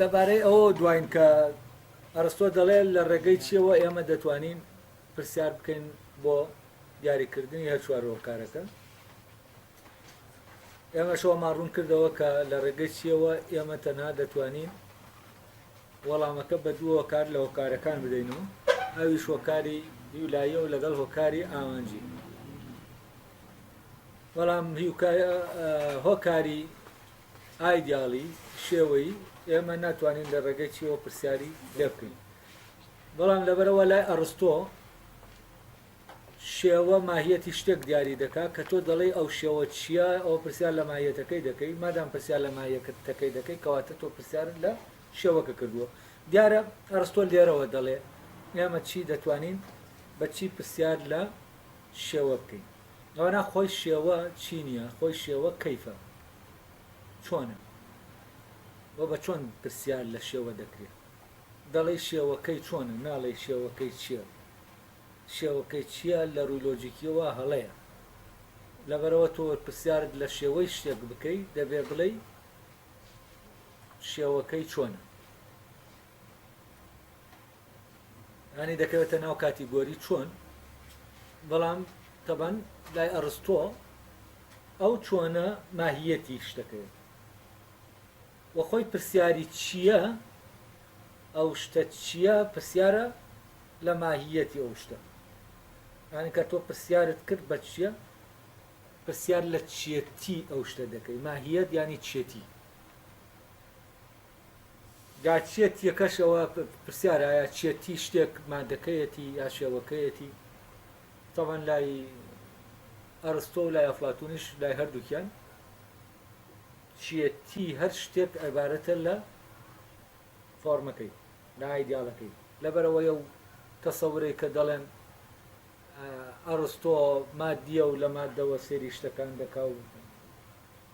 لەبارەی ئەوەوە دواین کە ئەرستۆ دەڵێ لە ڕێگەی چیەوە ئێمە دەتوانین پرسیار بکەین بۆ دیاریکردنی هەر چوار هۆکارەکە ئێمەشەوەمان ڕوون کردەوە کە لە ڕێگەی چیەوە ئێمە تەنها دەتوانین وەڵامەکە بە دوو هۆکار لە هۆکارەکان بدەینەوە ئەویش هۆکاری یولاییە و لەگەڵ هۆکاری ئامانجی بەڵام هۆکاری ئایدیاڵی، شێوەیی، ئێمە ناتوانین لە ڕێگەی چییەوە پرسیاری لێ بکەین. بەڵام لەبەرئەوە لای ئەڕستۆ شێوە ماهیەتی شتێک دیاری دەکات کە تۆ دەڵێی ئەو شێوە چییە، ئەوە پرسیار لە ماهیەتەکەی دەکەی، مادام پرسیار لە ماهیەتەکەی دەکەی کەواتە تۆ پرسیارت لە شێوەکە کردووە. دیارە ئەڕستۆ لێرەوە دەڵێ ئێمە چی دەتوانین بە چی پرسیار لە شێوە بکەین. ئەوەنا خۆی شێوە چی نییە، خۆی شێوە کەیفە. چۆنە؟ وە بە چۆن پرسیار لە شێوە دەکرێ؟ دەڵێی شێوەکەی چۆنە ناڵێی شێوەکەی چیە؟ شێوەکەی چیە لە ڕووی لۆجیکیەوە هەڵەیە لەبەرەوە تۆ پرسیارت لە شێوەی شتێک بکەی دەبێ بڵێی شێوەکەی چۆنە؟ یانی دەکەوێتە ناو کاتیگۆری چۆن بەڵام تەبەن لای ئەڕستۆ ئەو چۆنە ماهیەتی شتەکەوێت وەخۆی پرسیاری چییە ئەو شتە چییە پرسیارە لە ماهیەتی ئەو شتە یان کە تۆ پرسیارت کرد بە چییە پرسیار لە چێتی ئەو شتە دەکەی ماهیەت ینی چێتی جا چێت یەکەش ئەوە پرسیارە ئایا چێت تی شتێک مادەکەیەتی یا شێوەکەیەتی تەبەن لای ئەرستۆ و لای ئەفلاتونیش لای هەردووکیان چێتی هەر شتێک عبارەتە لە فۆرمەکەی لە ئایدیالەکەی لەبەرەوەی و تەسەورەی کە دەڵێن ئەرستۆ مادیە و لە مادەوە سێری شتەکان دەکا و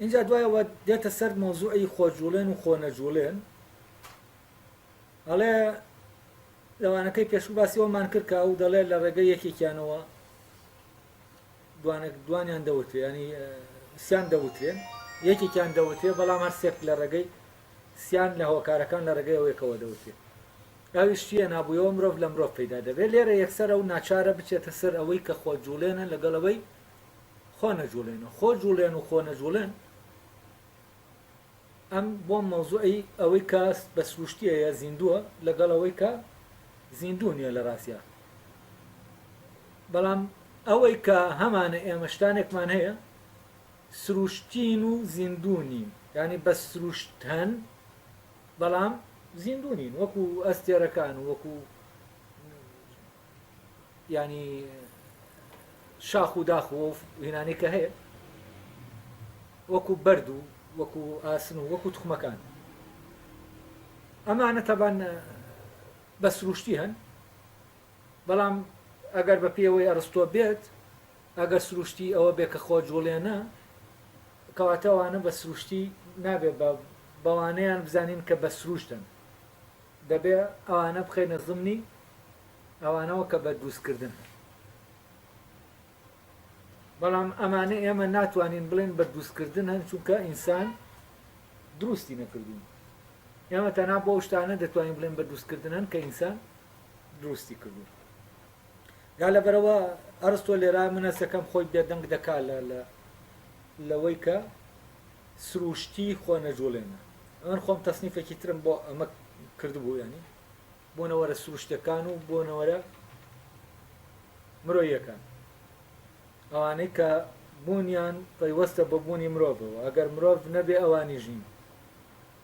ئینجا دوای ئەوە دێتە سەر مەوزوعی خۆجوڵێن و خۆنەجوڵێن ئەڵێ لەوانەکەی پێشوو باسی ئەومان کرد کە ئەو دەڵێ لە ڕێگە یەکێکیانەوە دوانێک دوانیان دەوترێ ینی سیان دەوترێن یەکێکیان دەوترێ بەڵام هەر سێک لە ڕێگەی سیان لە هۆکارەکان لە ڕێگەی ئەوێکەوە دەوترێت ئەوی شتیە نابووەوە مرۆڤ لە مرۆڤ پەیدا دەبێت لێرە یەکسەر ئەو ناچارە بچێتە سەر ئەوەی کە خۆ جوڵێنە لەگەڵەوەی خۆ نەجوڵێنەوە خۆ جوڵێن و خۆ نەجوڵێن ئەم بۆ مەوزوعی ئەوەی کە بە سروشتیەیە زیندووە لەگەڵ ئەوەی کە زیندوو نییە لە ڕاستە بەڵام ئەوەی کە هەمانە ئێمەشتانێکمان هەیە سروشتین و زیندوو نین ینی بە سروشتەن بەڵام زیندوو نین وەکو ئەستێرەکان وەکو یانی شاخ و داخ و هینانەی کە هەیە وەکو بەرد و وەکو ئاسن و وەکو تخمەکان ئەمانە تەبان بە سروشتی هەن بەڵام ئەگەر بە پێوەی ئەرستۆ بێت ئەگەر سروشتی ئەوە بێ کە خۆ جوڵێنە کەواتەوانە بە سروشتی نابێت بە بەوانەیان بزانین کە بە سروشتن دەبێ ئەوانە بخەینە زمنی ئەوانەوە کە بەردووزکردن هەن. بەڵام ئەمانە ئێمە ناتوانین بڵێین بەردووزکردن هەن چونکە ئینسان دروستی نەکردوون. ئێمە تەنها بۆ شتانە دەتوانین بڵێن بەردووزکردن هەن کە ئینسان دروستی کردوون. دا لەبەرەوە ئەرستۆ لێرا منەسەکەم خۆی بێدەنگ دەکا لە لەوەی کە سروشتی خۆ نەجوڵێنە ئەمن خۆم تەسنیفێکی ترم بۆ ئەمە کردبوو ینی بۆنەوەرە سروشتەکان و بۆنەوەرە مرۆیەکان ئەوانەی کە بوونیان پەیوەستە بە بوونی مرۆڤەوە ئەگەر مرۆڤ نەبێ ئەوانی ژین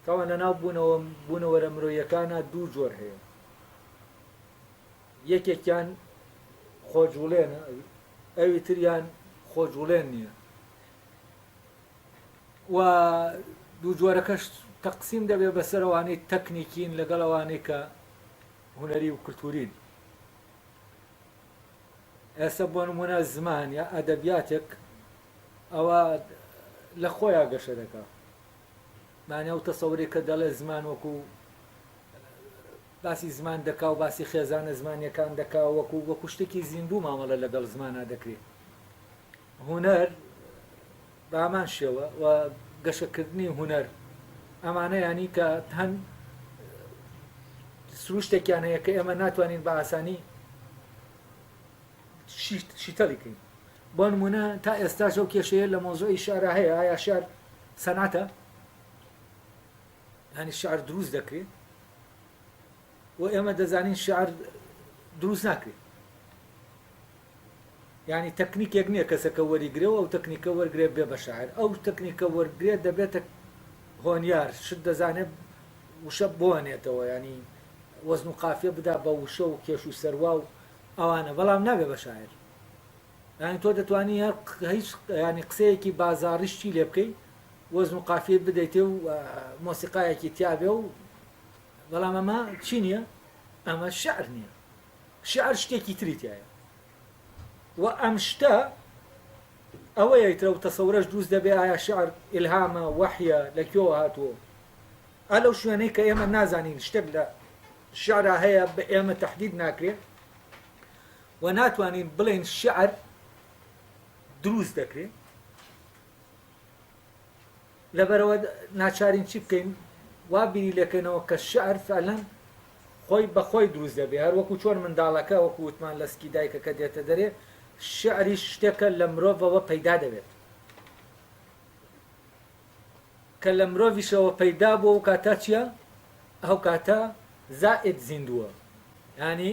تاوان لە ناو بوونەوە بوونەوەرە مرۆیەکانە دوو جۆر هەیە یەکێکیان خۆجوڵێنە ئەوی تریان خۆجوڵێن نییە و دوو جۆرەکەش تەقسیم دەبێت بەسەر ئەوانەی تەکنیکین لەگەڵ ئەوانەی کە هونەری و کلتورین ئێستا بۆ نمونە زمان یا ئەدەبیاتێک ئەوە لە خۆیان گەشە دەکە مانە و تەسەوری کە دەڵێ زمان وەکو باسی زمان دەکا و باسی خێزانە زمانەکان دەکا وەکو وەکو شتێکی زیندوو مامەڵە لەگەڵ زمانە دەکرێت هونەر بە هەمان شێوە و گەشەکردنی هونەر ئەمانە یانی کە هەن سروشتێکیان هەیە کە ئێمە ناتوانین بە ئاسانی شیتەڵیکەین بۆ نمونە تا ئێستا شەو کێشەیە لە مۆزۆی شارە هەیە ئایا شار سەناتە هەنی شار دروست دەکرێت و ئێمە دەزانین شعر دروست ناکرێت یعنی تەکنیکێک نییە کەسەکە وەریگرێ و ئەو تەکنیکە وەرگێ بێ بە شاعر ئەو تەکنیکە وەرگێ دەبێتە هۆنیار شت دەزانێت وشە بۆنێتەوە ینی وەزن و قافە بدا بە وشە و کێش و سەروا و ئەوانە بەڵام نابێ بە شاعر یعنی تۆ دەتوانی هەر هیچ ینی قسەیەکی بازاڕیشتی لێ بکەی وەزن و قافیت بدەیتێ و مۆسیقایەکی تیاابێ و بەڵام ئەمە چی نییە؟ ئەمە شعر نییە. شعر شتێکی تری تایە. و ئەم شتە ئەوەیە ترە و تەسەورەش دروست دەبێ ئایا شعر ئیلهامە وەحیە لە کوێوە هاتووە. ئا لەو شوێنەی کە ئێمە نازانین شتێک لە شعرا هەیە بە ئێمە تهدید ناکرێ و ناتوانین بڵێن شعر دروست دەکرێ لەبەرئەوە ناچارین چی بکەین وا بیری لەکەینەوە کە شعر فعلەن خۆی بەخۆی دروست دەبێ هەر وەکو چۆن منداڵەکە وەکو وتمان لە سکی دایکەکە دێتە دەرێ شعری شتێکە لە مرۆڤەوە پەیدا دەبێت کە لە مرۆڤیشەوە پەیدا بۆ و کاتا چییە ئەو کاتە زائد زیندووە ینی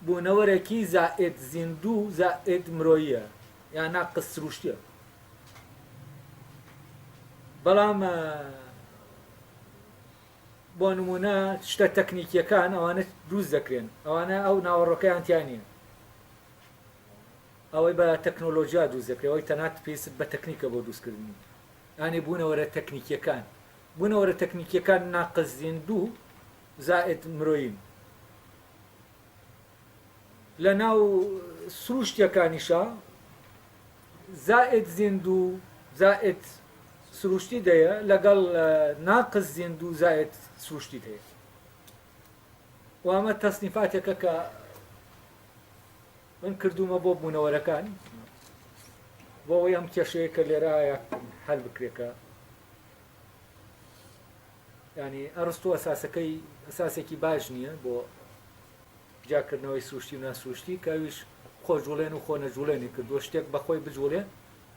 بوونەوەرەکی زائد زیندوو زائد مرۆیە یان ناقس سروشتە بەڵام بۆ نمونە شتە تەکنیکیەکان ئەوانە دروست دەکرێن ئەوانە ئەو ناوەڕۆکەیان تیانە ئەوەی بە تەکنۆلۆژیا دروست دەکرێەوەی تەنات پێست بە تەکنیکە بۆ دروستکردنی ئانی بوونەوەرە تەکنیکیەکان بوونەوەرە تەکنیکیەکان ناقزین دوو زائد مرۆین لە ناو سرووشتییەکانیشا زائد زیندو زائد سرووشتی دەیە لەگەڵ ناقس زیندو زائد سرووشتی دەیە و ئەمە تەسنیفاتێکە کە من کردومە بۆ بوونەوەرەکان بۆ ئەوەی ئەم کێشەیە کە لێرە هەیە هەل بکرێکە یانی ئەڕستۆ ئەساسەکەی ئەساسێکی باش نییە بۆ جیاکردنەوەی سروشتی و ناسروشتی کە ئەویش خۆ جوڵێن و خۆ نەجوڵێنی کردووە شتێک بەخۆی بجوڵێ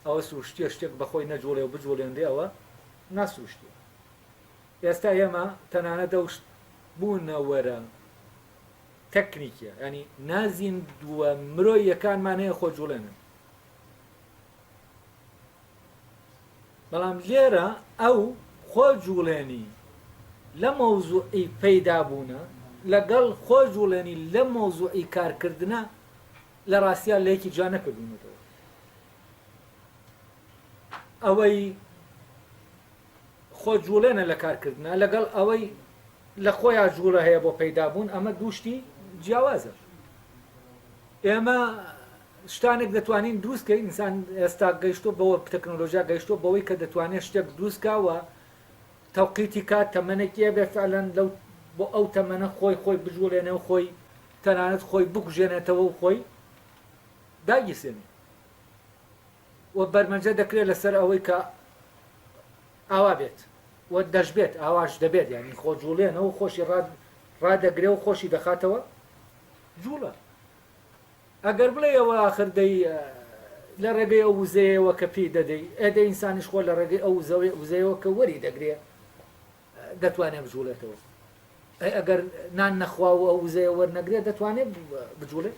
ئەوە سروشتیە شتێک بەخۆی نەجوڵێ و بجوڵێنرێ ئەوە ناسروشتیە ئێستا ئێمە تەنانە دەوشت بوونەوەرە تەکنیکە ینی نازین دووە مرۆیەکانمان هەیە خۆ جوڵێنن بەڵام لێرە ئەو خۆ جوڵێنی لە مەوزوعی پەیدا بوونە لەگەڵ خۆ جوڵێنی لە مەوزوعی کارکردنە لە ڕاستیا لە یەکی جا نەکردونەتەوە ئەوەی خۆ جوڵێنە لە کارکردە لەگەڵ ئەوەی لە خۆیان جوڵە هەیە بۆ پەیدابوون ئەمە دووشتی جیاوازە ئێمە شتانێک دەتوانین دروست کەین ئینسان ئێستا گەیشتوە بەوە تەکنۆلۆژیا گەیشتوە بەوەی کە دەتوانێت شتێک دروست کا و تەوقیتی کات تەمەنێکی هەبێت فعلەن لەو بۆ ئەو تەمەنە خۆی خۆی بجوڵێنێ و خۆی تەنانەت خۆی بکوژێنێتەوە و خۆی داگیرسێنێ و بەرمەجە دەکرێت لەسەر ئەوەی کە ئاوا بێت و دەشبێت ئاواش دەبێت یعنی خۆ جوڵێنە و خۆشی ڕاد ڕادەگرێ و خۆشی دەخاتەوە جوڵە ئەگەر بڵێی ئەوە ئاخر دەی لە ڕێگەی ئەو وزەیەوە کە پێی دەدەی، ئێ دە ئینسانیش خۆ لە ڕێگەی ئەو وزەیەوە کە وەری دەگرێ دەتوانێ بجووڵێتەوە. ئەی ئەگەر نان نەخوا و ئەو وزەیە وەرنەگرێ دەتوانێ بجووڵێ؟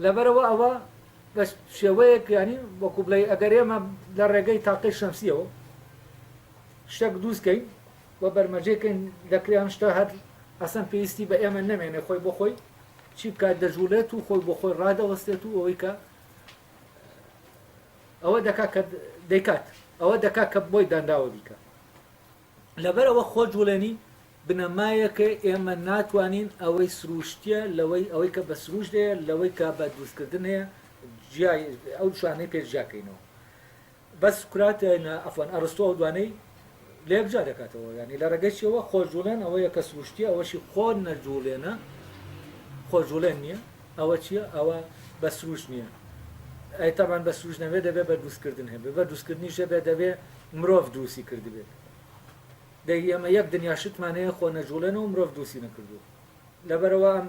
لەبەرەوە ئەوە بە شێوەیەک ینی وەکو بڵێ ئەگەر ئێمە لە ڕێگەی تاقی شەمسیەوە شتێک دووستکەین و بەرمەجێکەین دەکرێن شتە هەر ئەسەن پێویستی بە ئێمە نەمێنێ خۆی بۆ خۆی چی بکات دەجوڵێت و خۆی بۆ خۆی ڕادەوەستێت و ئەوەی کە ئەوە دەکا کە دەیکات ئەوە دەکا کە بۆی دانراوە بیکە لەبەرەوە خۆ جوڵێنی بنەمایەکە ئێمە ناتوانین ئەوەی سروشتە لەوەی ئەوەی کە بە سروش دەیە لەوەی کە بە دروستکردن هەیە ئەو شوانەی پێشجاکەینەوە بەس سوکرات عەفوەن ئەڕستۆ ئەو دوانەی لە یەک جیا دەکاتەوە یانی لە ڕێگەی چیەوە خۆجوڵێن ئەوەیە کە سروشتیە ئەوەشی خۆ نەجوڵێنە خۆجوڵێن نییە ئەوە چییە ئەوە بە سروش نییە ئەی تاوان بە سروش نەبێ دەبێ بە دروستکردن هەبێ بە دروستکردنی شەبێ دەبێ مرۆڤ دروستی کردبێت دەی ئێمە یەک دنیا شتمانەیە خۆ نەجوڵێنەوە مرۆڤ دروستی نەکردو لەبەرەوە ئەم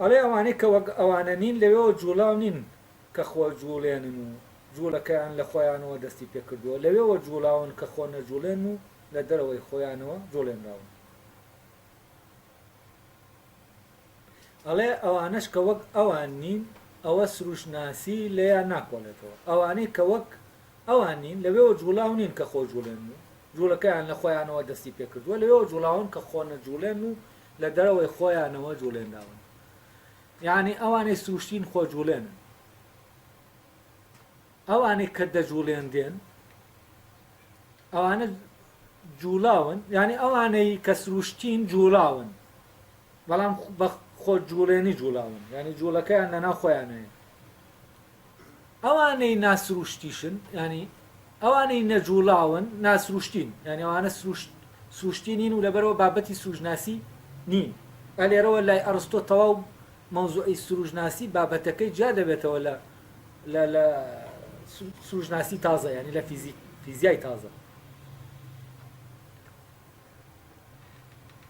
ئەڵێ ئەوانەی کە وەک ئەوانە نین لەوێوە جووڵاو نین کە خۆ جووڵێنن و جووڵەکەیان لە خۆیانەوە دەستی پێ کردووە، لەوێوە جووڵاون کە خۆ نەجووڵێنن و لە دەرەوەی خۆیانەوە جووڵێنراون. ئەڵێ ئەوانەش کە وەک ئەوان نین ئەوە سرووشتناسی لێیان ناکۆڵێتەوە، ئەوانەی کە وەک ئەوان نین لەوێوە جووڵاو نین کە خۆ جووڵێنن و جووڵەکەیان لە خۆیانەوە دەستی پێ کردووە، لەوێوە جووڵاون کە خۆ نەجووڵێنن و لە دەرەوەی خۆیانەوە جوڵێنراون یانی ئەوانەی سروشتین خۆ جوڵێنن ئەوانەی کە دەجوڵێنرێن ئەوانە جوڵاون یعنی ئەوانەی کە سروشتین جوڵاون بەڵام خۆ جوڵێنی جوڵاون یعنی جوڵەکەیان لەنا خۆیانەیە ئەوانەی ناسرووشتیشن یانی ئەوانەی نەجووڵاون ناسروشتین یعنی ئەوانە سروشت سروشتی نین و لەبەرەوە بابەتی سروژناسی نین ئەلێرەوە لای ئەڕستۆ تەواو مەوزوعی سروژناسی بابەتەکەی جیا دەبێتەوە لە لە لە سروژناسی تازە ینی لە فیزیک فیزیای تازە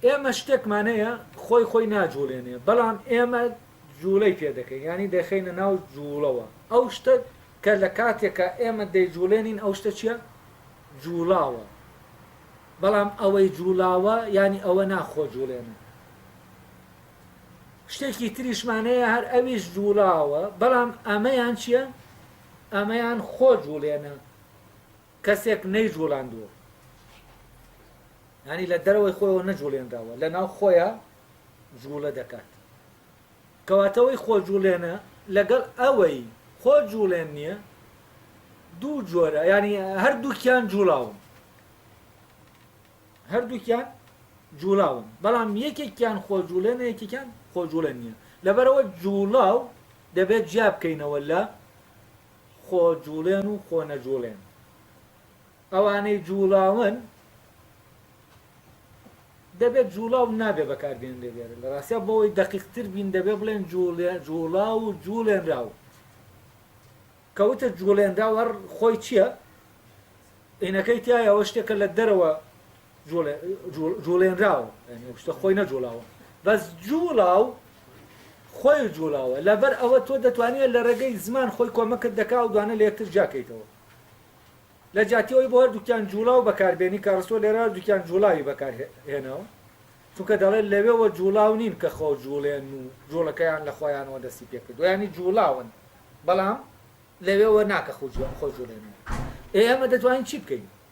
ئێمە شتێکمان هەیە خۆی خۆی ناجوڵێنێ بەڵام ئێمە جوڵەی پێ دەکەین یانی دەخینە ناو جوڵەوە ئەو شتە کە لە کاتێکە ئێمە دەیجوڵێنین ئەو شتە چییە جوڵاوە بەڵام ئەوەی جوڵاوە ینی ئەوە ناخۆ جوڵێنە شتێکی تریشمانەیە هەر ئەویش جوڵاوە بەڵام ئەمەیان چییە؟ ئەمەیان خۆ جوڵێنە کەسێک نەیجوڵاندووە یانی لە دەرەوەی خۆیەوە نەجوڵێنراوە لە ناو خۆیە جوڵە دەکات کەواتەوەی خۆ جوڵێنە لەگەڵ ئەوەی خۆ جوڵێن نییە دوو جۆرە ینی هەردووکیان جوڵاون هەردووکیان جوڵاون بەڵام یەکێکیان خۆ جوڵێنە یەکێکیان خۆ جوڵێن نییە لەبەرەوە جوڵاو دەبێت جیا بکەینەوە لە خۆ جوڵێن و خۆ نەجوڵێن ئەوانەی جوڵاون دەبێت جوڵاو نابێ بەکاربێنرێ لێرە لە ڕاستە بۆەوەی دقیقتر بین دەبێ بڵێن جوڵا و جوڵێنرا و کەوتە جوڵێنراوە خۆی چییە؟ ئینەکەی تایەوە شتێکە لە دەرەوە جوڵێنراوە یانی ئەو شتە خۆی نەجوڵاوە بەس جوڵاو خۆی جوڵاوە لەبەر ئەوە تۆ دەتوانێت لە ڕێگەی زمان خۆی کۆمەکت دەکا و دوانە لە یەکتر جاکەیتەوە لە جاتیەوەی بۆ هەردووکیان جوڵاو بەکاربێنی کە ڕسۆ لێرە هەردووکیان جوڵاوی بەکار هێناوە چونکە دەڵێت لەوێەوە جوڵاو نین کە خۆ جوڵێن و جوڵەکەیان لە خۆیانەوە دەستی پێکرد ینی جوڵاون بەڵام لەوێەوە ناکە خۆ جوڵێنەوە ئێ ئەمە دەتوانین چی بکەین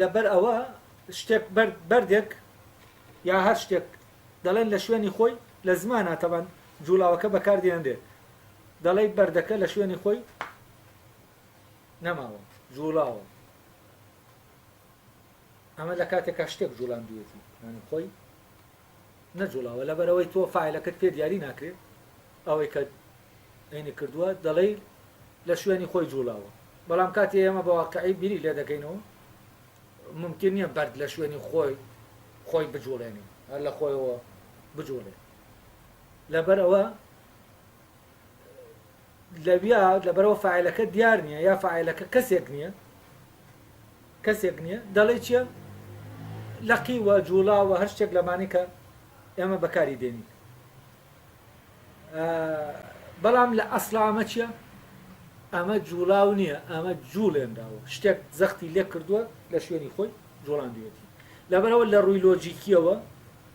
لەبەر ئەوە شتێک بەرد، بەردێک یا هەر شتێک دەڵێن لە شوێنی خۆی لە زمانا تەبان جووڵاوەکە بەکار دێنرێت دەڵێی بەردەکە لە شوێنی خۆی نەماوە جووڵاوە ئەمە لە کاتێکا شتێک جوڵاندوێتی یعنی خۆی نەجوڵاوە لەبەرئەوەی تۆ فاعلەکەت پێ دیاری ناکرێ ئەوەی کە عینی کردووە دەڵێی لە شوێنی خۆی جوڵاوە بەڵام کاتی ئێمە بە واقعی بیری لێ دەکەینەوە ممکن نییە بەرد لە شوێنی خۆی خۆی بجوڵێنی هەر لە خۆیەوە بجوڵێ لەبەر ئەوە لەویا لەبەرەوە فاعیلەکە دیار نیە یا فاعیلەکە کەسێک نیە کەسێک نیە دەڵێ چیە لەقی وە جوڵا وە هەر شتێک لەمانی کە ئێمە بەکاری دێنین بەڵام لە ئەسڵ ئەمە چیە ئەمە جوڵاو نییە ئەمە جوڵێنراوە شتێک زەختی لێ کردووە لە شوێنی خۆی جوڵاندوێتی لەبەرەوە لە ڕووی لۆجیکیەوە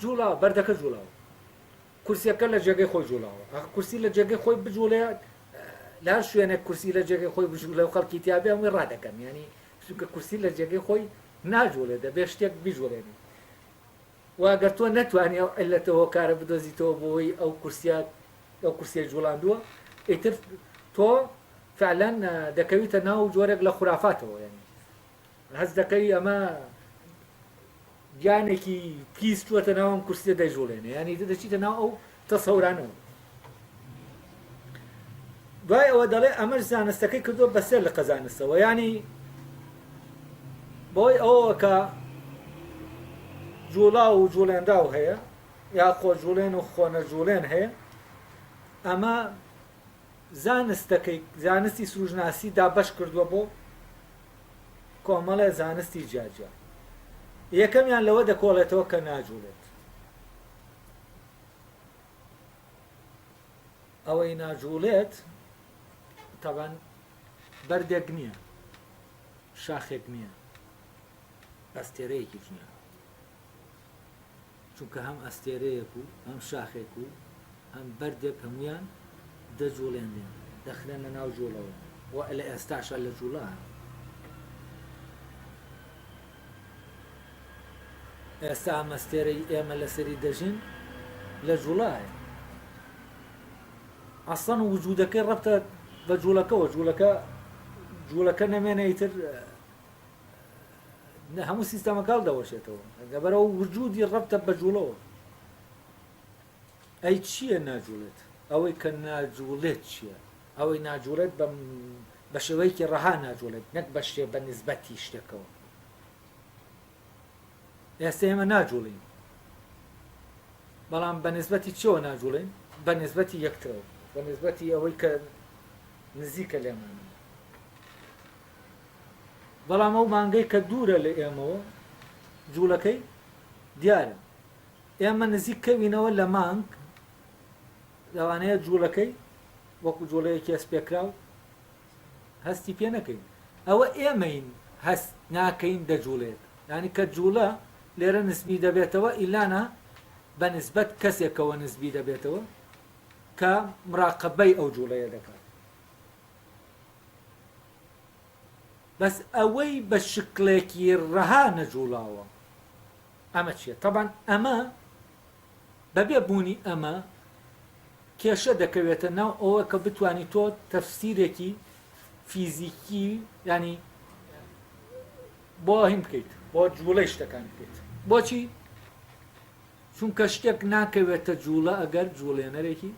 جوڵا، بەردەکە جوڵاوە. کورسیەکە لە جێگەی خۆی جوڵاوە. ئاخ کورسی لە جێگەی خۆی بجوڵێت، لە هەر شوێنێک کورسی لە جێگەی خۆی بجوڵێ و خەڵکی تیا بێ هەمووی ڕادەکەن. یانی چونکە کورسی لە جێگەی خۆی ناجوڵێ، دەبێ شتێک بیجوڵێنێ. و ئەگەر تۆ نەتوانی ئەو عیللەتە هۆکارە بدۆزیتەوە بۆی ئەو کورسیە ئەو کورسیەی جوڵاندووە، ئیتر تۆ فعلەن دەکەویتە ناو جۆرێک لە خورافاتەوە. یانی هەست دەکەی ئەمە گیانێکی پیس چووەتە ناو ئەم کورسیە دەیجوڵێنێ یانی دەچیتە ناو ئەو تەسەورانەوە دوای ئەوە دەڵێ ئەمەش زانستەکەی کردو بەسەر لە قەزانستەوە ینی بۆی ئەوەوە کە جوڵا و جوڵێنراو هەیە یا خۆ جوڵێن و خۆنە جوڵێن هەیە ئەمە زانستەکەی زانستی سروژناسی دابش کردووە بۆ کۆمەڵێ زانستی جیاجیا یەکەمیان لەوە دەکۆڵێتەوە کە ناجوڵێت ئەوەی ناجوڵێت تەبەن بەردێک نییە شاخێک نییە ئەستێرەیەکی نییە چونکە هەم ئەستێرەیەک و هەم شاخێک و هەم بەردێک هەموویان دەجووڵێنرێن، دەخرێنە ناو جووڵەوە و لە ئێستاشا لە جووڵە هەن. ئێستا ئەم ئەستێرەی ئێمە لەسەری دەژین لە جووڵایە. ئەسڵەن وجودەکەی ڕەبتە بە جووڵەکەوە، جووڵەکە جووڵەکە نەمێنە ئیتر نە هەموو سیستەمەکەڵ دەوەشێتەوە لەبەرەوە وجودی ڕەبتە بە جوڵەوە ئەی چییە ناجوڵێت ئەوەی کە ناجوڵێت چییە ئەوەی ناجوڵێت بە بە شێوەیەکی ڕەها ناجوڵێت نەک بە شێ بە نسبەتی شتەکەەوە ئێستا ئێمە ناجوڵین بەڵام بە نسبەتی چۆ ناجوڵێن بە نسبەتی یەکترەوە بە نسبەتی ئەوەی کە نزیکە لێمانەوە بەڵام ئەو مانگەی کە دوورە لە ئێمەوە جوڵەکەی دیارە. ئێمە نزیک کەوینەوە لە مانگ لەوانەیە جوڵەکەی وەکو جوڵەیەکی هەستپێکراو هەستی پێ نەکەین. ئەوە ئێمەین هەست ناکەین دەجوڵێت. یانی کە جوڵە لێرە نسبی دەبێتەوە ئیلانا بە نسبەت کەسێکەوە نسبی دەبێتەوە کە مراقەبەی ئەو جوڵەیە دەکات. بەس ئەوەی بە شکڵێکی ڕەها نەجوڵاوە ئەمە چیە تەبان ئەمە بەبێ بوونی ئەمە کێشە دەکەوێتە ناو ئەوە کە بتانی تۆ تەفسیرێکی فیزیکی ینی بۆ هیم بکەیت بۆ جوڵەی شتەکان بکەیت بۆچی چونکە شتێک ناکەوێتە جووڵە ئەگەر جووڵێنەرێکی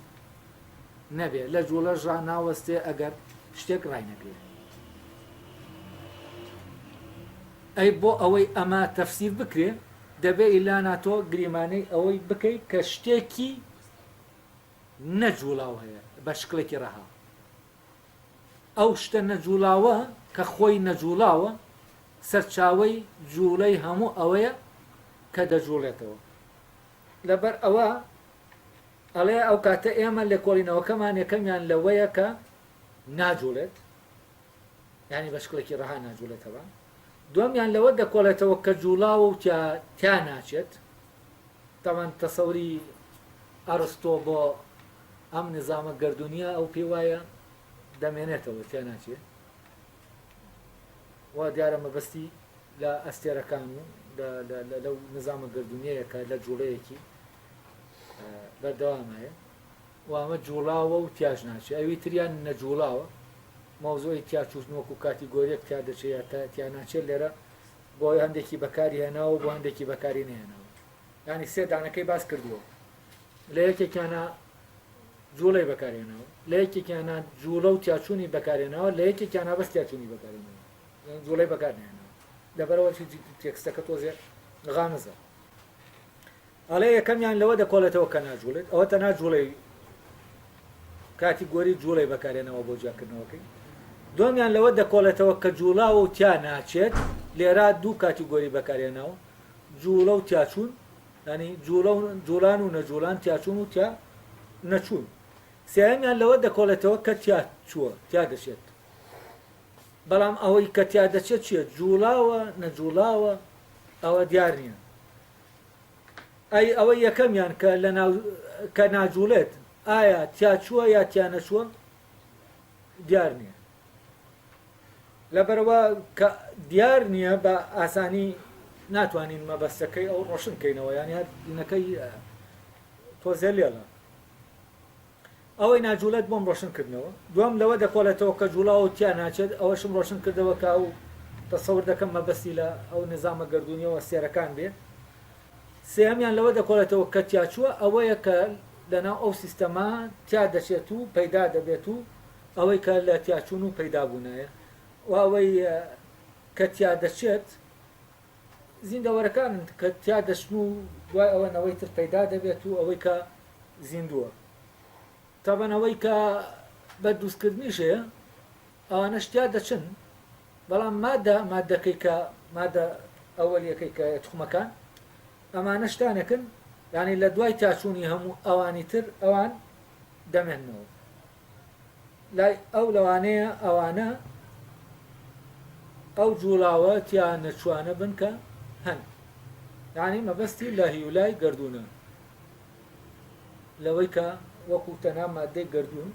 نەبێت، لە جووڵەشدا ناوەستێت ئەگەر شتێک ڕاینەگرێت. ئەی بۆ ئەوەی ئەمە تەفسیر بکرێت، دەبێت ئیلانا تۆ گریمانەی ئەوەی بکەیت کە شتێکی نەجووڵاو هەیە بە شکڵێکی ڕەها. ئەو شتە نەجووڵاوە کە خۆی نەجووڵاوە، سەرچاوەی جووڵەی هەموو ئەوەیە کە دەجووڵێتەوە. لەبەر ئەوە ئەڵێ ئەو کاتە ئێمە لێکۆڵینەوەکەمان یەکەمیان لەوەیە کە ناجووڵێت، یانی بە شکڵێکی ڕەها ناجووڵێتەوە. دووەمیان لەوە دەکۆڵێتەوە کە جووڵاوە و تیا ناچێت. تاوان تەسەوری ئەرستۆ بۆ ئەم نزامە گەردونیە ئەو پێ وایە دەمێنێتەوە تیا ناچێ وا دیارە مەبەستی لە ئەستێرەکان و لەو نزامە گەردونیەیەکە لە جوڵەیەکی بەردەوامایە وامە جوڵاوە و تیاژ ناچێ ئەوی تریان نەجوڵاوە مەوزۆی تیاچوتن وەکو کاتیگۆریەک تیا دەچێت تا تیاناچێت لێرە بۆ هەندێکی بەکاری هێناوە بۆ هەندێکی بەکاری نێناوە یانی سێ دانەکەی باس کردووە لە یەکێکیانە جوڵەی بەکارێنەوە لە یەکێکیانە جوڵە و تیاچوونی بەکارێنەوە لە یەکێکیانە بەس تیاچوونی بەکارێنەوە جوڵەی بەکارێنەوە لەبەرەوە تێکستەکە تۆزێ غامزە ئەڵێ یەکەمیان لەوە دەکۆڵێتەوە کە ناجوڵێت ئەوە تە ناجوڵەی کاتی گۆری جوڵەی بەکارێنەوە بۆ جیاکردنەوەکەی دومیان لەوە دەکۆڵێتەوە کە جوڵاوە و تیا ناچێت لێرا دوو کاتی گۆری بەکارێنەوە جووڵە و تیاچوون، یانی جووڵە و جووڵان و نەجووڵان، تیاچوون و تیا نەچوون. سێیەمیان لەوە دەکۆڵێتەوە کە تیا چووە، تیا دەچێت. بەڵام ئەوەی کە تیا دەچێت چییە؟ جووڵاوە، نەجووڵاوە؟ ئەوە دیار نییە. ئەی ئەوەی یەکەمیان کە لە ناو کە ناجووڵێت، ئایا تیا چووە یا تیا نەچووە؟ دیار نییە. لەبەرئەوە کە دیار نییە بە ئاسانی ناتوانین مەبەستەکەی ئەو ڕۆشن بکەینەوە یان هەر دینەکەی تۆزێ لێڵە ئەوەی ناجوولەت بۆم ڕۆشن کردنەوە دوام لەوە دەکۆڵێتەوە کە جوڵاو تیا ناچێت ئەوەشم ڕۆشن کردەوە کە ئەو تەسەور دەکەم مەبەستی لە ئەو نظامە گردردونیەوە سێرەکان بێ سێهمیان لەوە دەکۆڵێتەوە کە تیاچووە ئەوەیە کە لەناو ئەو سیستەما تیا دەچێت و پەیدا دەبێت و ئەوەی کە لە تیاچوون و پەیدابوونایە و ئەوەی کە تیا دەچێت، زیندەوەرەکانن کە تیا دەچن و دوای ئەوە نەوەی تر پەیدا دەبێت و ئەوەی کە زیندووە. تابان ئەوەی کە بە دروستکردنیش هەیە، ئەوانەش تیا دەچن، بەڵام مادە مادەکەی کە مادە ئەوەلییەکەی کە توخمەکان، ئەمانە شتانێکن یانی لە دوای تیاچوونی هەموو ئەوانی تر ئەوان دەمێننەوە. لای ئەو لەوانەیە ئەوانە ئەو جوڵاوە تیا نەچوانە بن کە هەن یعنی مەبەستی لە هیولای گردونە لەوەی کە وەکو تەنها مادەی گردون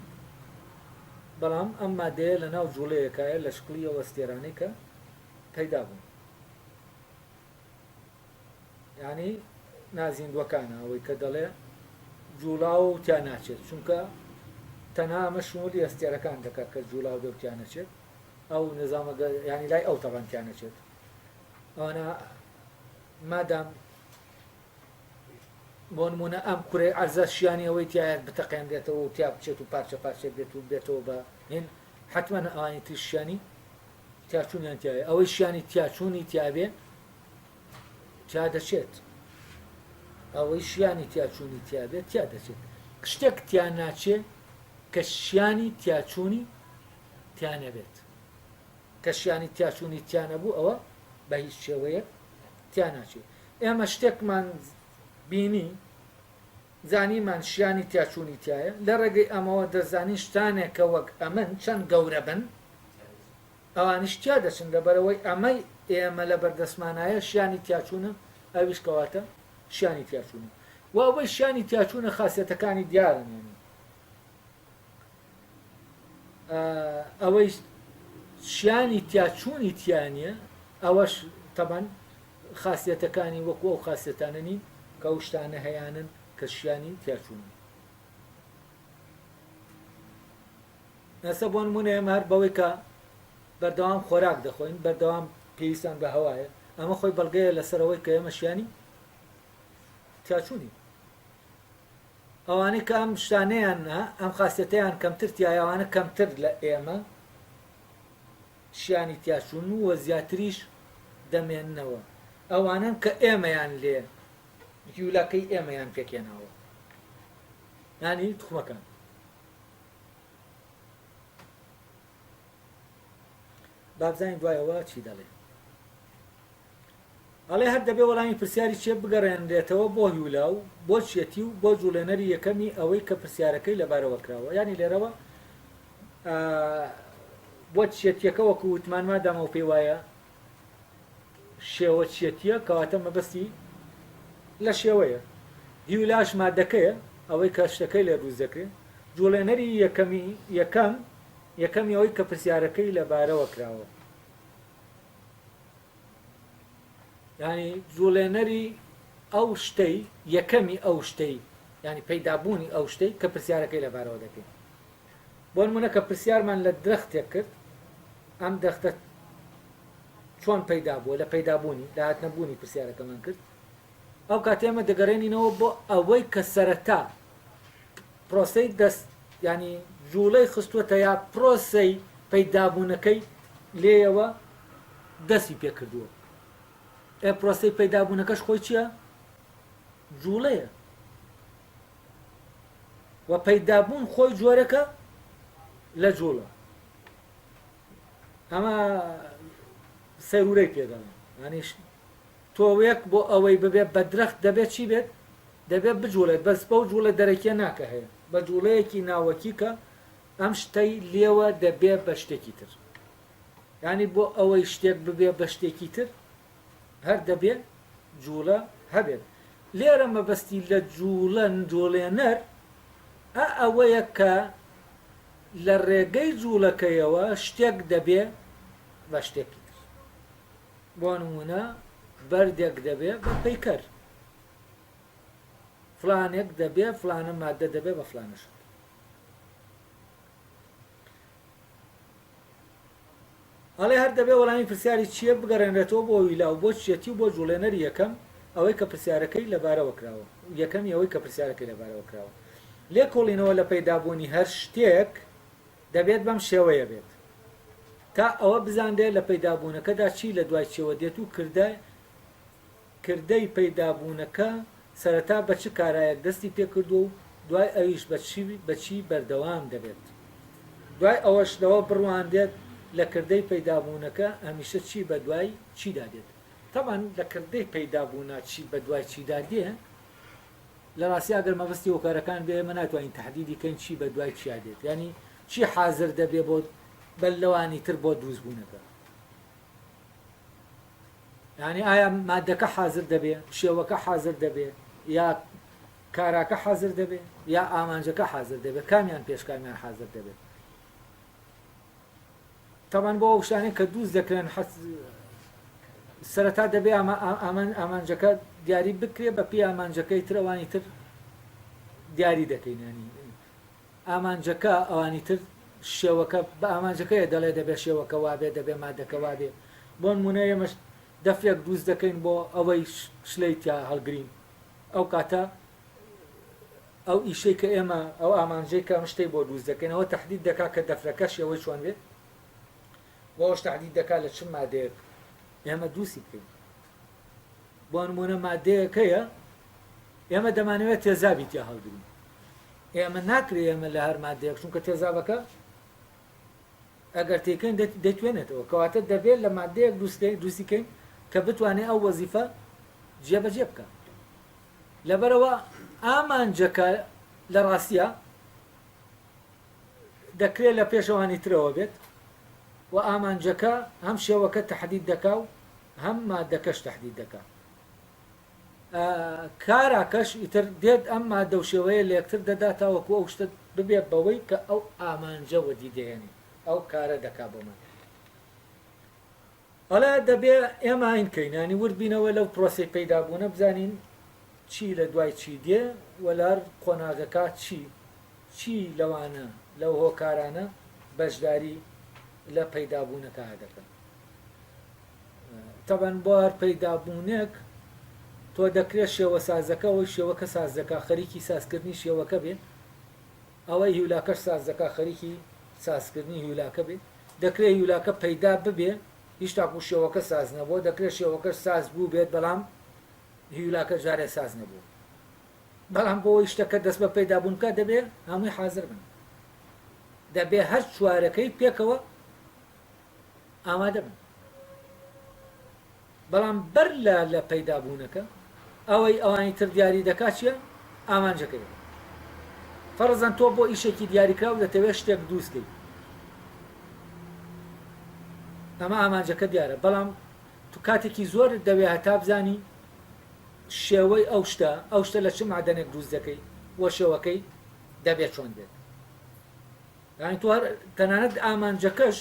بەڵام ئەم مادەیە لە ناو جوڵەیەکایە لە شکڵیەوە ستێرانەی کە پەیدا بوون یانی نازیندوەکانە ئەوەی کە دەڵێ جوڵاو و تیا ناچێت چونکە تەنها ئەمە شمولی ئەستێرەکان دەکات کە جوڵاو بێ و تیا نەچێت ئەو نظامە ینی لای ئەو تەبان تیا نەچێت ئەوانە مادام بۆ نمونە ئەم کورێ ئەرزە شیانی ئەوەی تایە بتەقێنرێتەوە و تیا بچێت و پارچە پارچێت بێت و بێتەوە بە هین حتممە ئەوانی تریشیانی تیاچوونیان تیایە ئەوەی شیانی تیاچوونی تیاێ تیا دەچێت ئەوەی شیانی تیاچوونی تیاێت تیا دەچێت شتێک تیا ناچێ کە شیانی تیاچوونی تیانەبێت کە شیانی تیاچوونی تیانەبوو ئەوە بە هیچ شێوەیە تیا ناچێت ئێمە شتێکمان بینی زانیمان شیانی تیاچوونی تایە لە ڕێگەی ئەمەوە دەزانین شتانێکە وەک ئەمن چەند گەورە بن ئەوانیش تیا دەچن لەبەرئەوەی ئەمەی ئێمە لەبەردەستمانایە شیانی تیاچوونە ئەویش کەواتە شیانی تیاچوونە و ئەوەی شیانی تیاچوونە خاسیەتەکانی دیارن یعنی ئەوەی شیانی تیاچوونی تیانە ئەوەش تەبەن خاصیتەکانی وەکو ئەو خاصێتانە نین کە و شتانە هەیەیانن کە شیانی تیاچوون ئێستا بۆ نمونە ئێمە هەر بەوەی کە بەردەوام خۆراک دەخۆین بەردەوام پێویستان بە هەوایە ئەمە خۆی بەڵگەیە لەسەرەوەی کە ئێمە شیانی تیاچوونی ئەوانەی کە ئەم شتانیان نا ئەم خاستەتیان کەمتر تایەوانە کەمتر لە ئێمە شیانی تیاچوون و وە زیاتریش دەمێننەوە ئەوانن کە ئێمەیان لێ یولاکەی ئێمەیان پێکێناوە ینی تخمەکان بابزانین دوای ئەوە چی دەڵێ ئەڵێ هەر دەبێ وەڵامی پرسیاری چێ بگەڕێنرێتەوە بۆ هیولا و بۆ چیەتی و بۆ جوڵێنەری یەکەمی ئەوەی کە پرسیارەکەی لەبارەوە کراوە ینی لێرەوە بۆ چێتیەکە وەکو وتمانما دامە و پێی وایە شێوە چیەتیە کەواتە مەبەستی لە شێوەیە هیولاش مادەکەیە ئەوەی کە شتەکەی لێ دروست دەکرێت جوڵێنەری یەکەمی یەکەم یەکەمی ئەوەی کە پرسیارەکەی لەبارەوە کراوە ینی جوڵێنەری ئەو شتەی یەکەمی ئەو شتەی ینی پەیدابوونی ئەو شتەی کە پرسیارەکەی لەبارەوە دەکەین بۆنمونە کە پرسیارمان لە درەختێک کرد ئەم درەختە چۆن پەیدا بووە لە پەیدا بوونی لە هاتنە بوونی پرسیارەکەمان کرد ئەو کاتی ئەمە دەگەرێنینەوە بۆ ئەوەی کە سەرەتا پرۆسەی دەست ینی جوڵەی خستووەتە یا پرۆسەی پەیدابوونەکەی لێیەوە دەستی پێکردووە ئێ پرۆسەی پەیدابوونەکەش خۆی چییە جوڵەیە و پەیدا بوون خۆی جۆرەکە لە جوڵە ئەمە سەرورەی پێدەڵێن ئەنیش تۆوێک بۆ ئەوەی ببێت بە درەخت دەبێت چی بێت دەبێت بجوڵێت بەس بەو جوڵە دەرەکیە ناکە هەیە بە جوڵەیەکی ناوەکی کە ئەم شتەی لێوە دەبێت بە شتێکی تر ینی بۆ ئەوەی شتێک ببێ بە شتێکی تر هەر دەبێ جووڵە هەبێت. لێرە مەبەستی لە جووڵە، جووڵێنەر، ە ئەوەیە کە لە ڕێگەی جووڵەکەیەوە شتێک دەبێ بە شتێکی تر. بۆ نموونە بەردێک دەبێ بە پەیکەر. فڵانێک دەبێ، فڵانە ماددە دەبێ بە فڵانە شت. ئەڵێ هەر دەبێ وەڵامی پرسیاری چییە بگەڕێنرێتەوە بۆ ویلا و بۆ چییەتی و بۆ جووڵێنەری یەکەم ئەوەی کە پرسیارەکەی لەبارەوە کراوە یەکەمی ئەوەی کە پرسیارەکەی لەبارەوە کراوە لێکۆڵینەوە لە پەیدابوونی هەر شتێک دەبێت بەم شێوەیە بێت تا ئەوە بزانرێت لە پەیدابوونەکەدا چی لە دوای چیەوە دێت و کردە کردەی پەیدابوونەکە سەرەتا بە چ کارایەک دەستی پێکردووە و دوای ئەویش بە چی بە چی بەردەوام دەبێت؟ دوای ئەوەش لەوە بڕوانرێت لە کردەی پەیدابوونەکە هەمیشە چی بە دوای چیدا دێت؟ تەبعەن لە کردەی پەیدابوونا چی بە دوای چیدا دێ، لە ڕاستیا گەر مەبەستی هۆکارەکان بێ ئێمە ناتوانین تەحدیدی کەین چی بە دوای چیا دێت یانی چی حازر دەبێ بۆ بەر لەوانی تر بۆ دروستبوونەکە. یانی ئایا مادەکە حازر دەبێ شێوەکە حازر دەبێ یا کاراکە حازر دەبێ یا ئامانجەکە حازر دەبێ کامیان پێش کامیان حازر دەبێ تاوان بۆ ئەو شتانێک کە دووست دەکرێن سەرەتا دەبێ ئامان ئامانجەکە دیاری بکرێ بە پێ ئامانجەکەی ترەوانی تر دیاری دەکەینانی ئامانجەکە ئەوانی تر شێوەکە بە ئامانجەکەیە دەڵێ دەبێ شێوەکە وابێ دەبێ مادەکە وابێ بۆنمونە ئێمەش دەفرێک دروست دەکەین بۆ ئەوەی شلەی تیا هەڵگرین ئەو کاتە ئەو ئیشەی کە ئێمە ئەو ئامانجەی کە ئەم شتەی بۆ دروست دەکەین ئەوە تهدید دەکا کە دەفرەکە شێوەی چۆن بێ بۆ ئەوش تهدید دەکا لە چ مادەیەک ئێمە دووسی بکەین بۆ نمونە مادەیەکەیە ئێمە دەمانەوێت تێزابی تیا هەڵگرین ئێمە ناکرێ ئێمە لە هەر مادەیەک چونکە تێزابەکە ئەگەر تێکەین دەتوێنێتەوە کەواتە دەبێت لە مادەیەک دوستی کەین کە بتوانێت ئەو وەزیفە جێبەجێ بکە لەبەرەوە ئامانجەکە لە ڕاستە دەکرێت لە پێشەوانی ترەوە بێت و ئامانجەکە هەم شێوەکە تهدید دەکا و هەم مادەکەش تهدید دەکا کارا کەش ئیتر دێت ئەم مادەو شێوەیە لەیەکتر دەدا تاوەکو ئەو شتە ببێت بەوەی کە ئەو ئامانجە وەدی دەهێنێت ئەو کارە دەکا بۆمان ئەڵێ دەبێ ئێمە ئاین کەین ینی ورد بینەوە لەو پرۆسی پەیدا بوونە بزانین چی لە دوای چی دێ وەلار قۆناغەکە چی چی لەوانە لەو هۆکارانە بەشداری لە پەیدابوونەکە دەکەن تەبەن بۆ هەر پەیدا بوونێک تۆ دەکرێ شێوەسازەکە ئەوەی شێوەکە ساز دەکا خەریکی سازکردنی شێوەکە بێ ئەوەی هیولاکەش ساز دەکا خەریکی سازکردنی هیولاکە بێ دەکرێ هیولاکە پەیدا ببێ هیچ تاکوو شێوەکە ساز نەبووە دەکرێ شێوەکەش ساز بووبێت بەڵام هیولاکە جارێ ساز نەبووە بەڵام بۆ ئەوەی شتەکە دەست بە پەیدا بوون بکات دەبێ هەمووی حازر بن دەبێ هەر چوارەکەی پێکەوە ئامادە بن. بەڵام بەر لە لە پەیدا بوونەکە ئەوەی ئەوانی تر دیاری دەکات چیە؟ ئامانجەکەیە. فەرزەن تۆ بۆ ئیشێکی دیاریکراو دەتەوێت شتێک دووست کەیت. ئەمە ئامانجەکە دیارە بەڵام تو کاتێکی زۆرت دەوێت هەتا بزانی شێوەی ئەو شتە ئەو شتە لە چ مادەنێک دووست دەکەیت وە شێوەکەی دەبێت چۆن بێت. یانی تۆ هەر تەنانەت ئامانجەکەش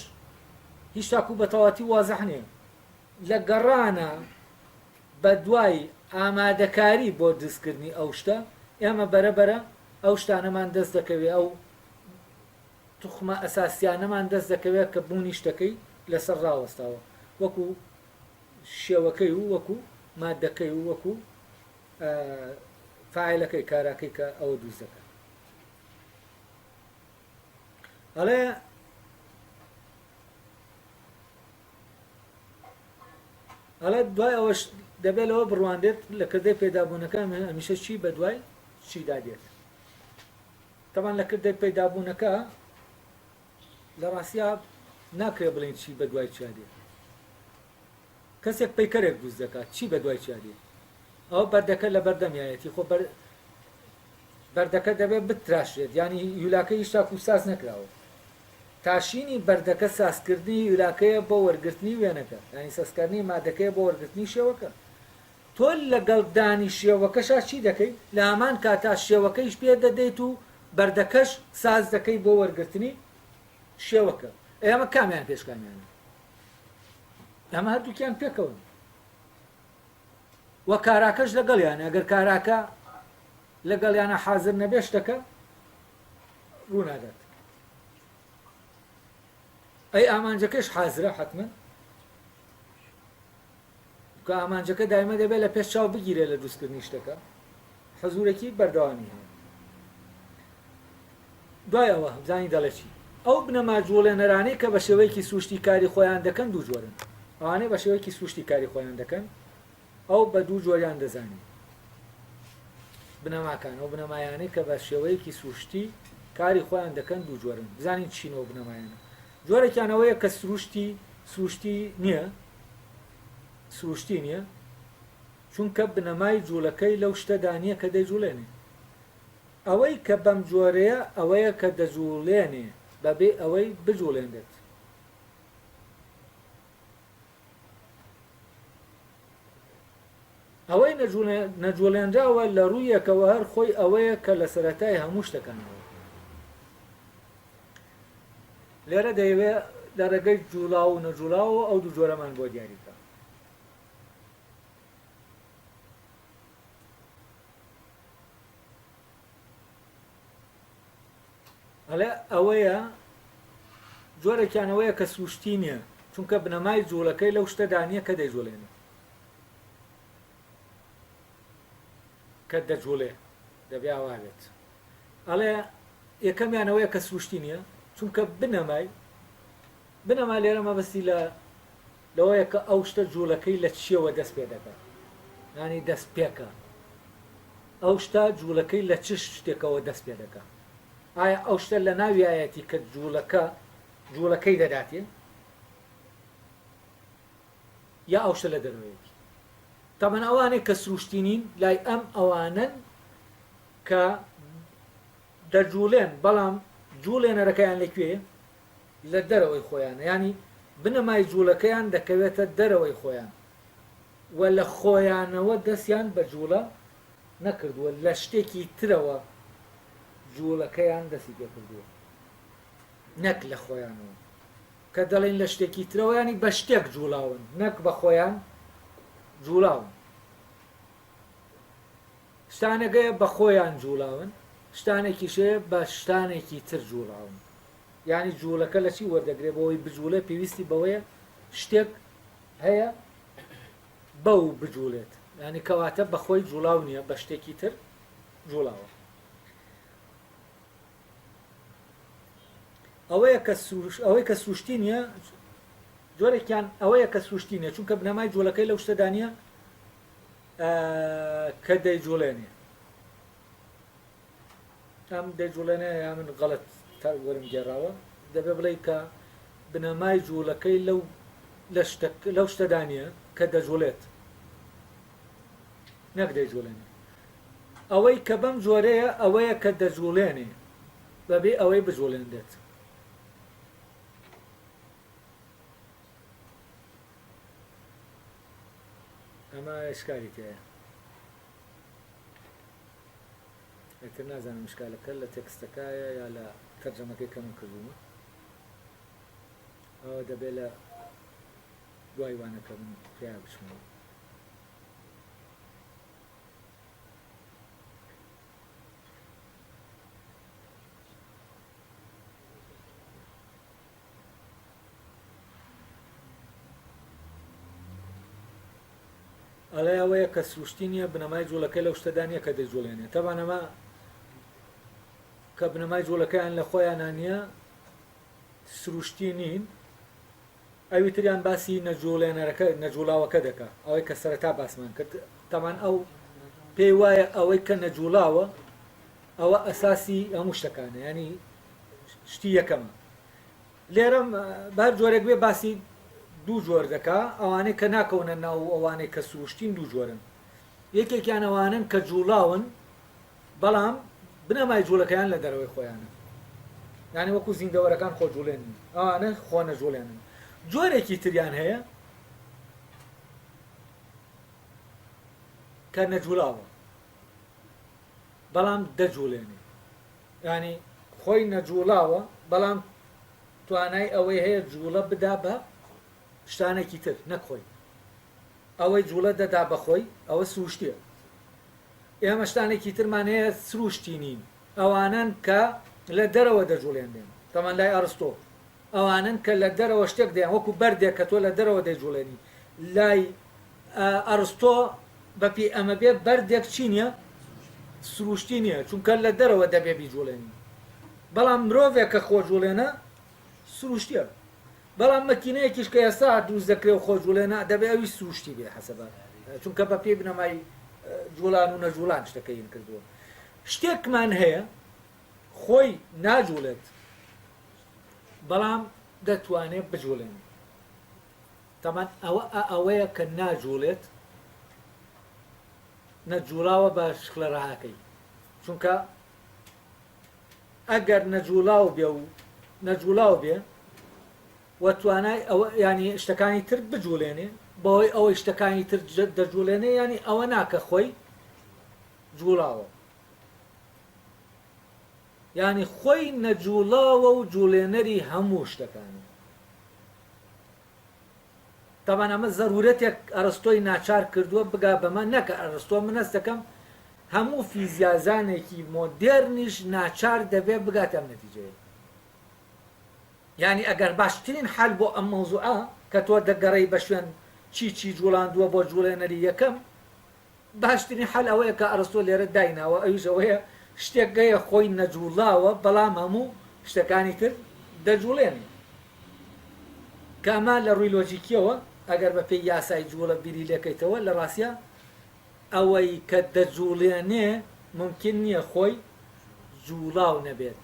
هیچ تاکو بەتەواتی وازح نیە لە گەڕانە بە دوای ئامادەکاری بۆ دزکردنی ئەو شتە ئێمە بەرە بەرە ئەو شتانەمان دەست دەکەوێ ئەو توخمە ئەساسیانەمان دەست دەکەوێت کە بوونی شتەکەی لەسەر ڕاوەستاوە وەکو شێوەکەی و وەکو مادەکەی و وەکو فعلەکەی کاراکەی کە ئەوە دووز دەکەن ئەڵێ ئەڵێ دوای ئەوەش دەبێت لەوە بڕواندێت لە کردەی پێدابوونەکە هەمیشە چی بە دوای چیدا دێت تەمان لە کردەی پێدابوونەکە لە ڕاستیا ناکرێ بڵین چی بە دوای چیا دێت کەسێک پەیکەرێک دروست دەکات چی بە دوای چیا دێ ئەوە بەردەکە لە بەردەمیایەتی خۆ بەر بەردەکە دەبێت بتراشێت یانی یولاکە هیشتا کوساز نەکراوە تاشینی بەردەکە سازکردنی یولاکەیە بۆ وەرگرتنی وێنەکە ینی سەسکردنی مادەکەی بۆ وەرگرتنی شێوەکە تۆ لەگەڵ دانی شێوەکەشا چی دەکەیت لە هەمان کاتا شێوەکەیش پێ دەدەیت و بەردەکەش ساز دەکەی بۆ وەرگرتنی شێوەکە ئێمە کامیان پێشکامیانە ئەمە هەردووکیان پێکەون وە کاراکەش لەگەڵیان ئەگەر کاراکە لەگەڵیانە حاضر نەبێ شتەکە ڕوونادات ئەی ئامانجەکەش حازرە حتمما کە ئامانجەکە دایمە دەبێت لە پێش چاو بگیرێت لە دروستکردنی شتەکە حەزورەکی بەردەوامی هەیە دوای ئەوە هەبزانی دەڵێ چی ئەو بنەما جوڵێنەرانەی کە بە شێوەیەکی سروشتی کاری خۆیان دەکەن دوو جۆرن ئەوانەی بە شێوەیەکی سروشتی کاری خۆیان دەکەن ئەو بە دوو جۆریان دەزانین بنەماکان ئەو بنەمایانەی کە بە شێوەیەکی سروشتی کاری خۆیان دەکەن دوو جۆرن بزانین چینەوە بنەمایانە جۆرێکیان ئەوەیە کە سروشتی سروشتی نییە، سروشتی نییە، چونکە بنەمای جووڵەکەی لەو شتەدا نییە کە دەیجووڵێنێ. ئەوەی کە بەم جۆرەیە ئەوەیە کە دەجووڵێنێ بەبێ ئەوەی بجووڵێنرێت. ئەوەی نەجوڵێنراوە لە ڕوویەکەوە هەر خۆی ئەوەیە کە لە سەرەتای هەموو شتەکانەوە لێرە دەیەوێ لە ڕێگەی جوڵاو و نەجوڵاوە ئەو دوو جۆرەمان بۆ دیاریکە ئەڵێ ئەوەیە جۆرێکیان ئەوەیە کە سروشتی نییە چونکە بنەمای جوڵەکەی لەو شتەدا نییە کە دەیجوڵێنێ کە دەجوڵێ دەبێ ئەوا بێت ئەڵێ یەکەمیانەوەیە کە سروشتی نییە چونکە بنەمای بنەما لێرە مەبەستی لە لەوەیە کە ئەو شتە جووڵەکەی لە چییەوە دەست پێ دەکات یانی دەست پێکا ئەو شتە جووڵەکەی لە چ شتێکەوە دەست پێ دەکات ئایا ئەو شتە لە ناویایەتی کە جووڵەکە جووڵەکەی دەداتێ یا ئەو شتە لە دەروەیەتی تەمەن ئەوانەی کە سروشتینین لای ئەم ئەوانن کە دەجوڵێن بەڵام جوڵێنەرەکەیان لەکوێ لە دەرەوەی خۆیانە یانی بنەمای جوڵەکەیان دەکەوێتە دەرەوەی خۆیان و لە خۆیانەوە دەستیان بە جوڵە نەکردووە لە شتێکی ترەوە جوڵەکەیان دەستی پێکردووە نەک لە خۆیانەوە کە دەڵێن لە شتێکی ترەوەیانی بە شتێک جوڵاون نەک بە خۆیان جوڵاون شتانەگەیە بە خۆیان جووڵاون، شتانێکیشەیە بە شتانێکی تر جووڵاون. یانی جووڵەکە لە چی وەردەگرێ بۆ ئەوەی بجووڵێ پێویستی بەوەیە شتێک هەیە بەو بجووڵێت. یانی کەواتە بە خۆی جووڵاو نییە بە شتێکی تر جووڵاوە. ئەوەیە کە سروش... ئەوەی کە سروشتی نییە جۆرێکیان ئەوەیە کە سروشتی نییە چونکە بنەمای جووڵەکەی لەو شتەدا نییە کە دەیجوڵێنێ ئەم دەیجوڵێنێ یا من غەڵت وەرم گێڕاوە دەبێ بڵێ کە بنەمای جوولەکەی لەو لەو شتەدانە کە دەجوڵێت نەک دەیجوڵێنێ ئەوەی کە بەم جۆرەیە ئەوەیە کە دەجوڵێنێ بەبێ ئەوەی بجوڵێنێت ئەمە ئیشکالی تیایە ئیتر نازانم ئیشکالەکە لە تێکستەکایە یا لە تەرجەمەکەی کە من کردوومە ئەوە دەبێ لە دوای وانەکە من تیا بچمەوە ئەڵێ ئەوەیە کە سروشتی نییە بنەمای جوڵەکەی لەو شتەدا نییە کە دەیجوڵێنێ تەبان ئەمە کە بنەمای جوڵەکەیان لە خۆیانە نییە سروشتی نین ئەوی تریان باسی نەجوڵێنەرەکە نەجوڵاوەکە دەکا ئەوەی کە سەرەتا باسمان کرد تەمان ئەو پێی وایە ئەوەی کە نەجوڵاوە ئەوە ئەساسی هەموو شتەکانە ینی شتی یەکەم لێرە بەر جۆرێک بێ باسی دوو جۆر دەکا ئەوانەی کە ناکەونە ناو و ئەوانەی کە سروشتین دوو جۆرن یەکێکیان ئەوانن کە جوڵاون بەڵام بنەمای جوڵەکەیان لە دەرەوەی خۆیانە یعنی وەکو زیندەوەرەکان خۆ جوڵێن ئەوانە خۆ نەجوڵێنن جۆرێکی تریان هەیە کە نەجوڵاوە بەڵام دەجوڵێنێ یانی خۆی نەجوڵاوە بەڵام توانای ئەوەی هەیە جوڵە بدا بە شتانێکی تر نەک خۆی ئەوەی جوڵە دەدا بەخۆی ئەوە سروشتیە ئێمە شتانێکی ترمان هەیە سروشتی نین ئەوانن کە لە دەرەوە دەجوڵێنێن تەمان لای ئەرستۆ ئەوانن کە لە دەرەوە شتێک دەیان وەکو بەردێک کە تۆ لە دەرەوە دەیجوڵێنی لای ئەرستۆ، بە پێی ئەمە بێ بەردێک چی نییە؟ سرووشتی نییە، چونکە لە دەرەوە دەبێ بیجووڵێنی. بەڵام مرۆڤێک کە خۆجووڵێنە، سرووشتییە. بەڵام مەکینەیەکیش کە ئێستا دروست دەکرێ و خۆجووڵێنە، دەبێ ئەویش سرووشتی بێ حەسەبە، چونکە بە پێی بنەمای جووڵان و نەجووڵان شتەکە هین کردووە. شتێکمان هەیە خۆی ناجووڵێت، بەڵام دەتوانێ بجووڵێنێ. تەمان ئەوە ئەئەوەیە کە ناجوڵێت نە جوڵاوە بە شکلە ڕەهاکەی چونکە ئەگەر نەجوڵاو بێ و نەجوڵاو بێ و توانای ئەوە ینی شتەکانی تر بجوڵێنێ بەوەی ئەوەی شتەکانی تر دەجوڵێنێ ینی ئەوە ناکە خۆی جوڵاوە ینی خۆی نەجوڵاوە و جوڵێنەری هەموو شتەکانی تەبعەن ئەمە زەرورەتێک ئەرستۆی ناچار کردووە بگا بەمە، نەک ئەرستۆ من هەست دەکەم هەموو فیزیازانێکی مۆدێرنیش ناچار دەبێ بگاتە ئەم نەتیجەیە. یانی ئەگەر باشترین حەل بۆ ئەم مەوزوعە کە تۆ دەگەڕێی بە شوێن چی چی جووڵاندووە بۆ جووڵێنەری یەکەم، باشترین حەل ئەوەیە کە ئەرستۆ لێرە دایناوە ئەویش ئەوەیە شتێک گەیە خۆی نەجوڵاوە بەڵام هەموو شتەکانی تر دەجوڵێنێ کە ئەمە لە ڕووی لۆجیکیەوە ئەگەر بە پێی یاسای جوڵە بیری لێکەیتەوە لە ڕاستیا ئەوەی کە دەجوڵێنێ مومکین نییە خۆی جوڵاو نەبێت.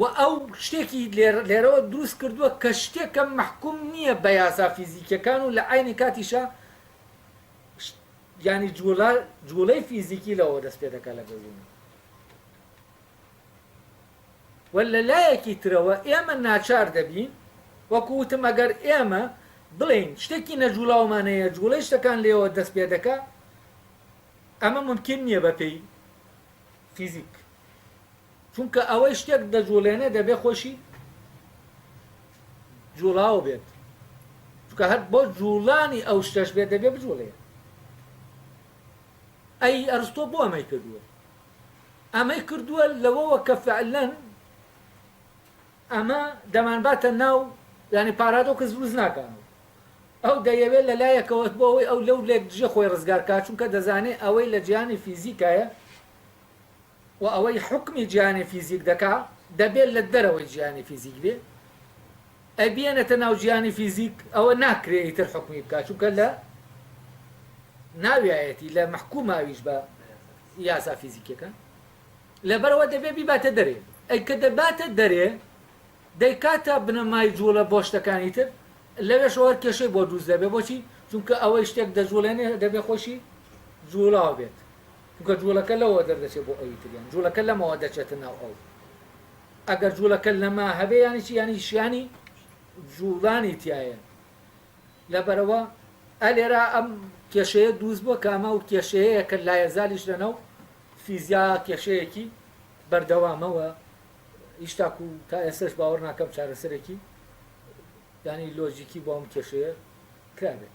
وە ئەو شتێکی لێرەوە دروست کردووە کە شتێکە مەحکوم نییە بە یاسا فیزیکیەکان و لە عەینی کاتیشا یانی جووڵە جووڵەی فیزیکی لەوە دەست پێ دەکات لە گەردوون و لە لایەکی ترەوە ئێمە ناچار دەبین وەکو وتم ئەگەر ئێمە بڵین شتێکی نەجووڵاومانەیە جووڵەی شتەکان لێەوە دەست پێ دەکات ئەمە ممکن نییە بەپێی فیزیک چونکە ئەوەی شتێک دەجوڵێنێ دەبێ خۆشی جوڵاوە بێت چونکە هەر بۆ جوڵانی ئەو شتەش بێت دەبێ بجوڵێ ئەی ئەرستۆ بۆ ئەمەی کردووە ئەمەی کردووە لەوەوە کە فعلەن ئەمە دەمانباتە ناو ینی پارادۆکە زروز ناکەن ئەو دەیەوێت لە لایەکەوە بۆ ئەوەی ئەو لەو لێک دژە خۆی ڕزگارکە چونکە دەزانێت ئەوەی لە جیانی فیزیکایە و ئەوەی حوکمی جیهانی فیزیک دەکا دەبێ لە دەرەوەی جیهانی فیزیک بێ ئەبیەنەتە ناو جیهانی فیزیک ئەوە ناکرێ ئیتر حوکمی بکا چونکە لە ناویایەتی لە مەحکوماویش بە یاسا فیزیکیەکان لەبەرەوە دەبێ بیباتە دەرێ ئەی کە دەباتە دەرێ دەیکاتە بنەمای جوڵە بۆ شتەکانی تر لەوێش ئەوە کێشەی بۆ دروست دەبێ بۆچی چونکە ئەوەی شتێک دەجوڵێنێ دەبێ خۆشی جوڵاو بێت چونکە جوڵەکە لەوەوە دەردەچێت بۆ ئەوی تر یان جوڵەکە لەمەوە دەچێتە ناو ئەو ئەگەر جوڵەکە لەمە هەبێ یانی چی یانی شیانی جوڵانی تایە لەبەرەوە ئەلێرا ئەم کێشەیە دووز بووە کامە و کێشەیە کە لایەزالیش لەناو فیزیا کێشەیەکی بەردەوامەوە هیچتاکو تا ئێسش باوەڕ ناکەم چارەسەرێکی ینی لۆجیکی بۆ ئەم کێشەیە کرابێت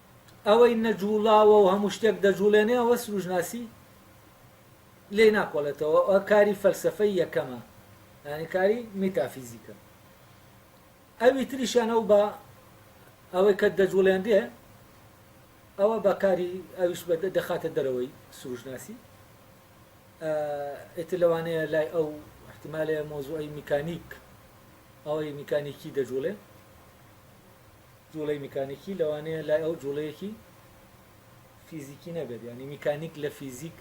ئەوەی نەجووڵاوە و هەموو شتێک دەجووڵێنێ ئەوە سرووشناسی لێی ناکۆڵێتەوە و ئەوە کاری فەلسەفەی یەکەمە یانی کاری میتافیزیکە ئەوی تریشیان ئەو بە ئەوەی کە دەجووڵێنرێ ئەوە بە کاری ئەویش بە دەخاتە دەرەوەی سرووشناسی ئێتر لەوانەیە لای ئەو احتیمالەیە مۆزوعی میکانیک ئەوەی میکانیکی دەجوڵێ جوڵەی میکانیکی لەوانەیە لای ئەو جوڵەیەکی فیزیکی نەبێت یعنی میکانیک لە فیزیک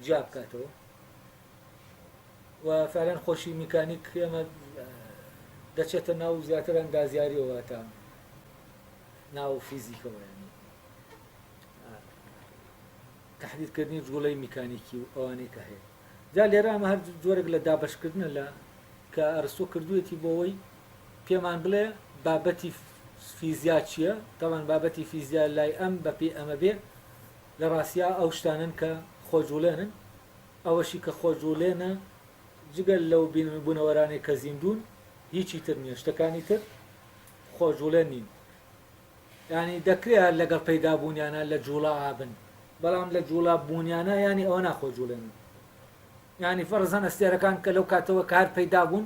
جیا بکاتەوە و فعلەن خۆشی میکانیک ئێمە دەچێتە ناو زیاتر ئەندازیاریەوە تا ناو فیزیکەوە ینی تحدیدکردنی جوڵەی میکانیکی و ئەوانەی کە هەیە جا لێرە ئەمە هەر جۆرێک لە دابشکردنە لە کە ئەرسۆ کردوێتی بۆەوەی پێمان بڵێ بابەتی فیزیا چیە تاوان بابەتی فیزیا لای ئەم بە پێ ئەمە بێ لە ڕاستیا ئەو شتانن کە خۆجوڵێنن ئەوەشی کە خۆجوڵێنە جگەل لەو بوونەوەرانەی کە زیندون هیچی تر نیە شتەکانی تر خۆجوڵێن نین ینی دەکرێ هەر لەگەڵ پەیدابوونیانە لە جوڵا ئابن بەڵام لە جوڵا بوونیانە ینی ئەوە ناخۆ جوڵێنن ینی فەرزان ئەستێرەکان کە لەو کاتەوە کار پەیدا بوون